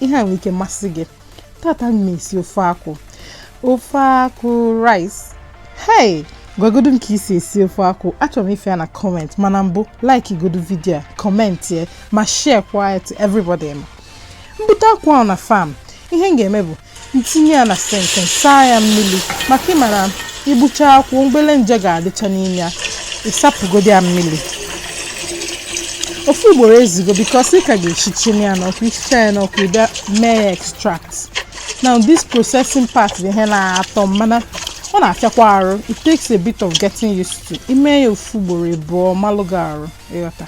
ihe a nwere ike masị gị tata m na-esi ofe akwụ ofe akwụ rice hey gwagodu m ka i si esi ofe akwụ achọrọ m ịfụ ya na comment mana mbụ like godu video a commentie ma share kwa ya to everybody ma m bute akwụ ahụ na farm ihe m ga-eme bụ m tinye ya na sink saa ya mmiri maka ị mara i gbucha akwụ ụmụ obele nje ga-adịcha n'ime ya ị sapụgodi ya mmiri ofu ugboro ezugo because ị ka ga-eshishili ya n'ọkụ i shicha ya n'ọkụ ị bịa mee ya extract now this processing part the ihe na-atọ mana ọ na-afịakwa arụ it takes a bit of getting used to i mee ya ofu ugboro ịbụọ ọ malụ gị arụ ị ghọta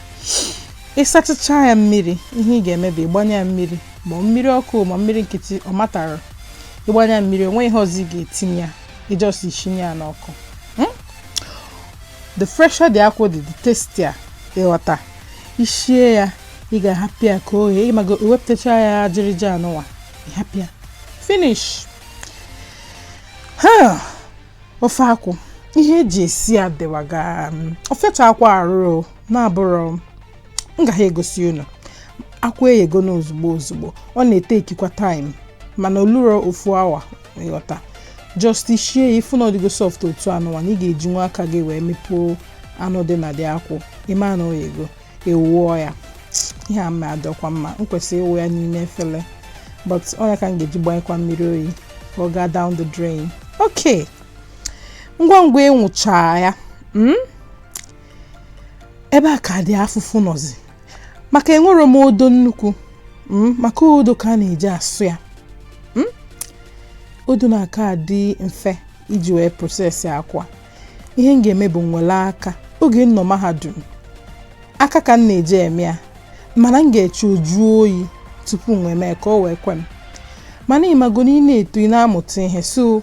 ị sachacha ya mmiri ihe ị ga-eme bụ ịgbanye ya mmiri ma mmiri ọkụ ma mmiri nkịtị ọ matterọ ị gbanye ya mmiri o nwe ihe ọzọ ị ga-etinye ya ị just sinye ya n'ọkụ hmm? the fresher the akwụ the tastier ị ghọta i shie ya ị ga-ahapụ ya ka o ghee ị mago e wepụtacha ya ajịrịja anụwa ị hapụ ya finish ofe akwụ ihe e ji esi ya dịwaga um, ofecha akwụ arụrụ na-abụrụ m gaghị egosi unu akwụ eyego na ozugbo ozugbo ọ na-etekikwa time mana o lurọ ofu awa ị ghọta just shie ya ị fụ na ọ dịgo soft otu anụwa na ị ga-eji nwa aka gị wee mepụo anụ dị na the akwụ ị ma na o yego ị wụọ ya ihe a ma adịkwa mma m kwesịrị ịwụ ya n'ime efere but ọ nya ka m ga-eji gbanyekwa mmiri oyi ka ọ gaa down the drain ok ngwa ngwa m wụcha ya hmm? ebe a ka the afụfụ nọzi maka enwerọ m odo nnukwu hmm, maka odo ka a na-eji asụ ya hmm? odo na-aka adị mfe iji wee process akwụ a ihe m ga-eme bụ m wele aka oge m nọ mahadum aka ka m na-eji eme ya mana m ga-eche ọ jụọ oyi tupu m wee mee ka o wee kwe m mana ị mago na ị na-eto ị na-amụta ihe so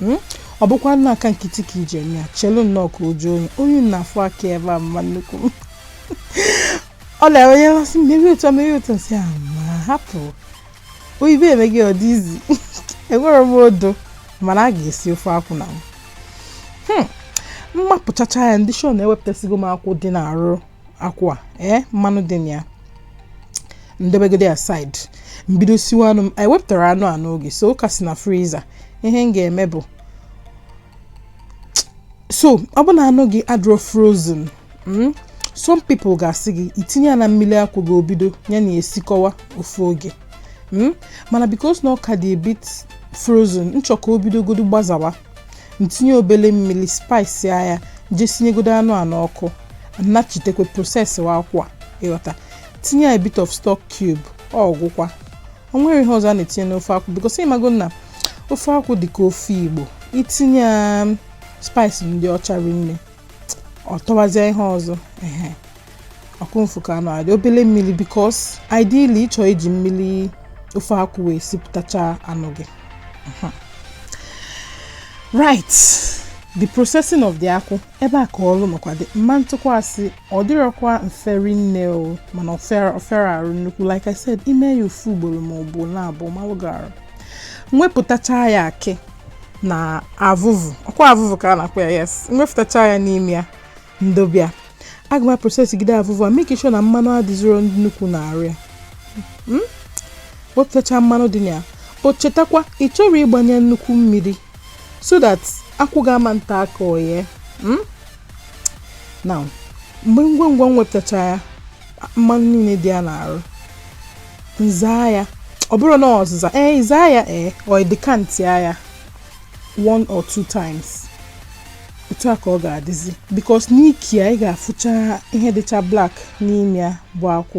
Hmm? ọ bụkwa na aka nkịtị ka i ji eme ya chelu nnọọ ka ọ jụọ oyi ọ na-afụ aka ebe a mma nnukwu m ọ na-enwe ihe mmasị m merie otu merie otu m sị a ma hapụ oyibo emego ọ dị easy enwerọ m odo mana a ga-esi ofe akwụ na m hmm. m mapụchacha ya m dị sure na ewepụtasịgo m akwụ dị n'arụ akwụ a ee mmanụ dị na ya m dobegodu aside m bido siwa anụ m wepụtara anụ a n'oge so ọ ka si na freezer ihe m ga-eme bụ so ọ bụ na anụ gị adịrọ frozen mm, some people ga-asị gị tinye ya na mmiri akwụ gị o bido ya na esikọwa ofu oge mm, mana because na ọ ka dị a bit frozen m chọ ka o bidogodu gbazawa ntinye obele mmiri spice ya je sinyegodo anụ a n'ọkụ nnachitekwa processiwa akwụ a ịghọta tinye ya a bit of stock cube ọgwụkwa o nwere ihe ọzọ a na-etinye n'ofe akwụ because ịmago na ofe akwụ dị ka ofe igbo itinye um, spice ndị ọcha rinne ọ tọwazie ihe ọzọ ehe akwụ mfụka anụ a dị obele mmiri because ideally ịchọ iji mmiri ofe akwụ wee sipụtacha anụ gị mhm. right the processing of the akwụ ebe a ka ọrụ nọkwa dị mma ntụkwasị ọ dịrọkwa mfe rinne o mana ọ fịarọ arụ nnukwu like i said ime ya ofu ugboro ma ọ bụ na abụọ ọ malụ gị arụ nwepụtacha ya akị na avụvụ ọkwa avụvụ ka a na-akpọ ya yes nwepụtacha ya n'ime ya ndobe ya aga m aprocessgide avụvụ a make sure na mmanụ adịzirọ nnukwu na arụ ya hmm? wepụtacha mmanụ dị na ya but chetakwa ị chọrọ ịgbanye nnukwu mmiri so that akwụ ga-ama nta aka oye hmm? na mgbe ngwa ngwa m wepụtacha ya mmanụ niile dị ya n'arụ nzaa ya ọ bụrụ na ọzịza ee eh, zaa ya ee eh, ọ dị ka nzaa ya one or two times otu a ka ọ ga-adịzi because n'ike ya ị ga-afụcha ihe dịcha black n'ime ya bụ akwụ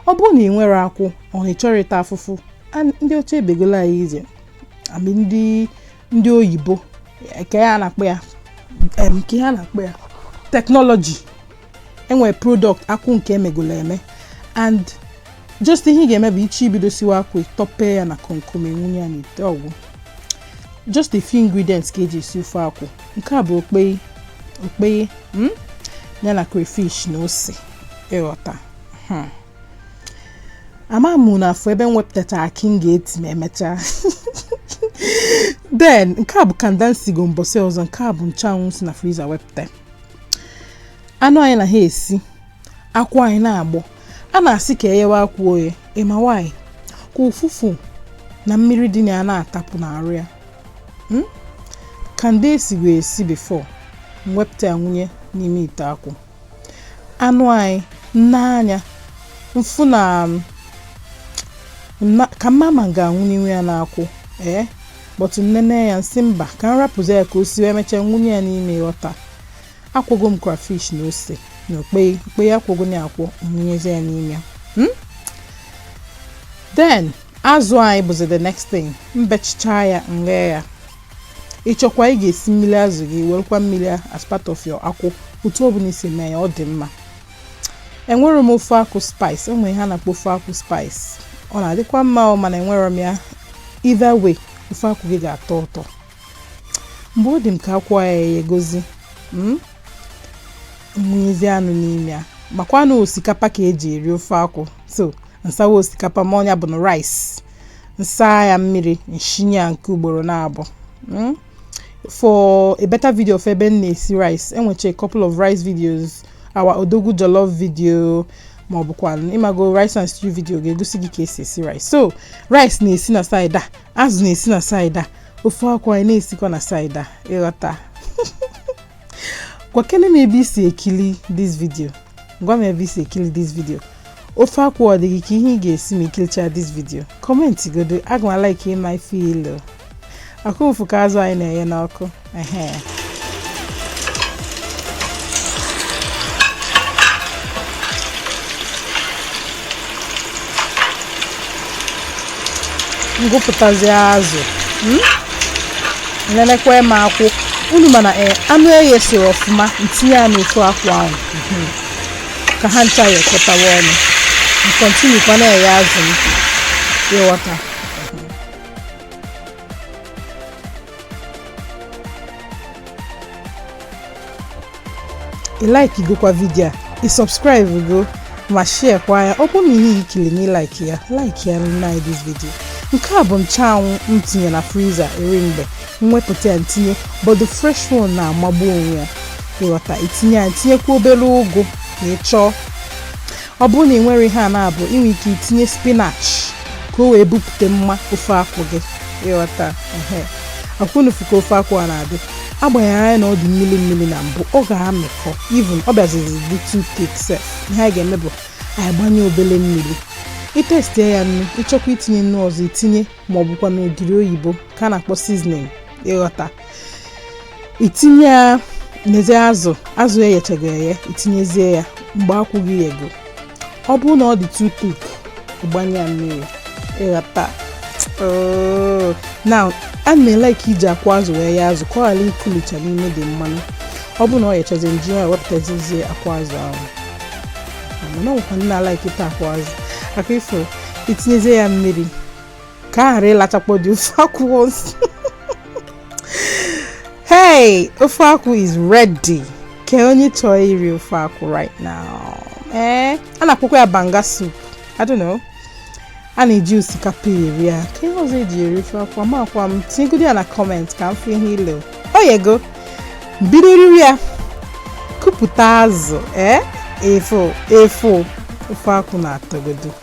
ọ bụrụ na ị nwerọ akwụ or ị chọrọ ịta afụfụ ndị ọcha ebegolu anyị ije i mean ndị ndị oyibo kee ihe a na-akpọ ya kee ihe a na-akpọ ya technology enwere product akwụ nke emegolo eme and just ihe ị ga-eme bụ ị chọọ ibido siwa akwụ tọpee ya na komkom ị wunye ya n'ite ọgwụ just a few ingredients ka eji esi ofe akwụ nke a bụ okpei okpei hmm? ya na crayfish na ose ịghọta hmm. ama m na ị fụ ebe m wepụtachara akị m ga-eti ma emechaa then nke a bụ kanda m sigo mbọsị ọzọ nke a bụ nchanwụ si na freezer wepụta anụ anyị na ha esi akwụ anyị na-agbọ a na-asị ka enyewe akwụ oye ịma why ka ụfụfụ na mmiri dị na ya na-atapụ n'arụ ya hmm? kanda esigo esi before mwepụta ya nwunye n'ime ite akwụ anụ anyị nne anya mfụ na ka m ma ma m ga-awunyewe ya n'akwụ ee eh? but nnene ya nsị mba ka m rapụzi ya ka o siwe emechaa nwunye ya n'ime ịghọta akwọgo m crayfish na ose na okpei okpei akwọgo m ya akwọ nwunyezi ya n'ime ya hmm? then azụ anyị bụzi the next thing mbechichaa ya nghe ya ịchọkwa ị ga-esi mmiri azụ gị werekwa mmiri as part of your akwụ otu ọ bụla i si mee ya ọ dị mma enwere m ofe akwụ spice o nwere ihe a na-akpọ ofe akwụ spice ọ na-adịkwa mma ọ mana enwerọ m ya either way ofe akwụ gị ga-atọ ụtọ mgbe ọ dị m ka akwụ yegozi hmm? m wụnyezi anụ n'ime ya makwa na osikapa ka eji eri ofe akwụ so nsawa osikapa m ọ nya bụ na rice nsa ya mmiri nshinye ya nke ugboro naabụọ hmm? for a better video of ebe m na-esi rice enwecha a couple of rice videos our odogwu jollof video ma ọ bụkwa ịmago rice and stew video ga-egosi gị ka e si esi rice so rice na-esi na side a azụ na-esi na side a ofe akwụ anyị na-esikwa na side a ịghọta gwakene m ebe i si ekili this video Gwa m ebe i si ekili this video. Ofe akwụ ọ dị gị ka ihe ị ga-esi ma i kilichaa this video. Comment godu, aga m alike ịma ife ilu. Ọkwa unu fụ ka azụ anyị na-eye n'ọkụ. Ehe. ngụpụtazi azụ hmm? nenekwa m ọkwa unu ma na eh, anụ eyesirọ ọfụma ntinye ya n'ofe akwụ ahụ hmm. ka ha ncha yekọtawa ọnụ m continue kwa na-eye azụ m ịghọta ị likegokwa video a ị subscribe go ma share kwa ya ọ bụrụ na ihe i kili na ị like ya like ya nna anyị this video nke a bụ nchanwụ m tinye na freezer eri mgbe m wepụta ya ntinye but the fresh one na-amagbu onwe ya ịghọta itinye ya tinyekwa obere ụgụ na ị chọọ Ọ bụrụ na ị nwerọ ihe a naabụọ ị nwere ike itinye spinach ka o wee bupute mma ofe akwụ gị ịghọta ọkwa unu fụ ka ofe akwụ a na-adị agbanyerọ anya na ọ dị mmiri mmiri na mbụ ọ ga-amịkọ even ọ bịazizi dị too thick sef ihe anyị ga-eme bụ anyị gbanye obele mmiri itestie ya nnu ịchọkwa itinye nnu ọzọ itinye ma ọ bụkwa na ogiri oyibo ka a na-akpọ seasoning ịghọta itinye ya nezie azụ azụ eyechago eye itinyezie ya mgbe akwụ gị yego ọ bụrụ na ọ dị too thick ịgbanye ya mmiri ịghọta oh. ana m elike iji akwụ azụ wee yee azụ ka ọ ghara ikulicha n'ime the mmanụ ọ bụrụ na ọ yechazi nji ya wepụtazizie akwụ azụ ahụ mana o nwekwa ndị na-alike ịta akwụ azụ ọkwa ị fụ itinyezie ya mmiri ka a ghara ịlachakpọ the ofe akwụ hey ofe akwụ is ready kee onye chọọ iri ofe akwụ right now ee eh, a na-akpọkwa ya banga soup i don't know a na-eji osikapa eri ya kee ihe ọzọ eji eri ofe akwụ amakwa m tinyegodo ya na comment ka m fụ ihe ile o yego bido riri ya kupụta azụ ee eh? efo efo ofe akwụ na-atọgodo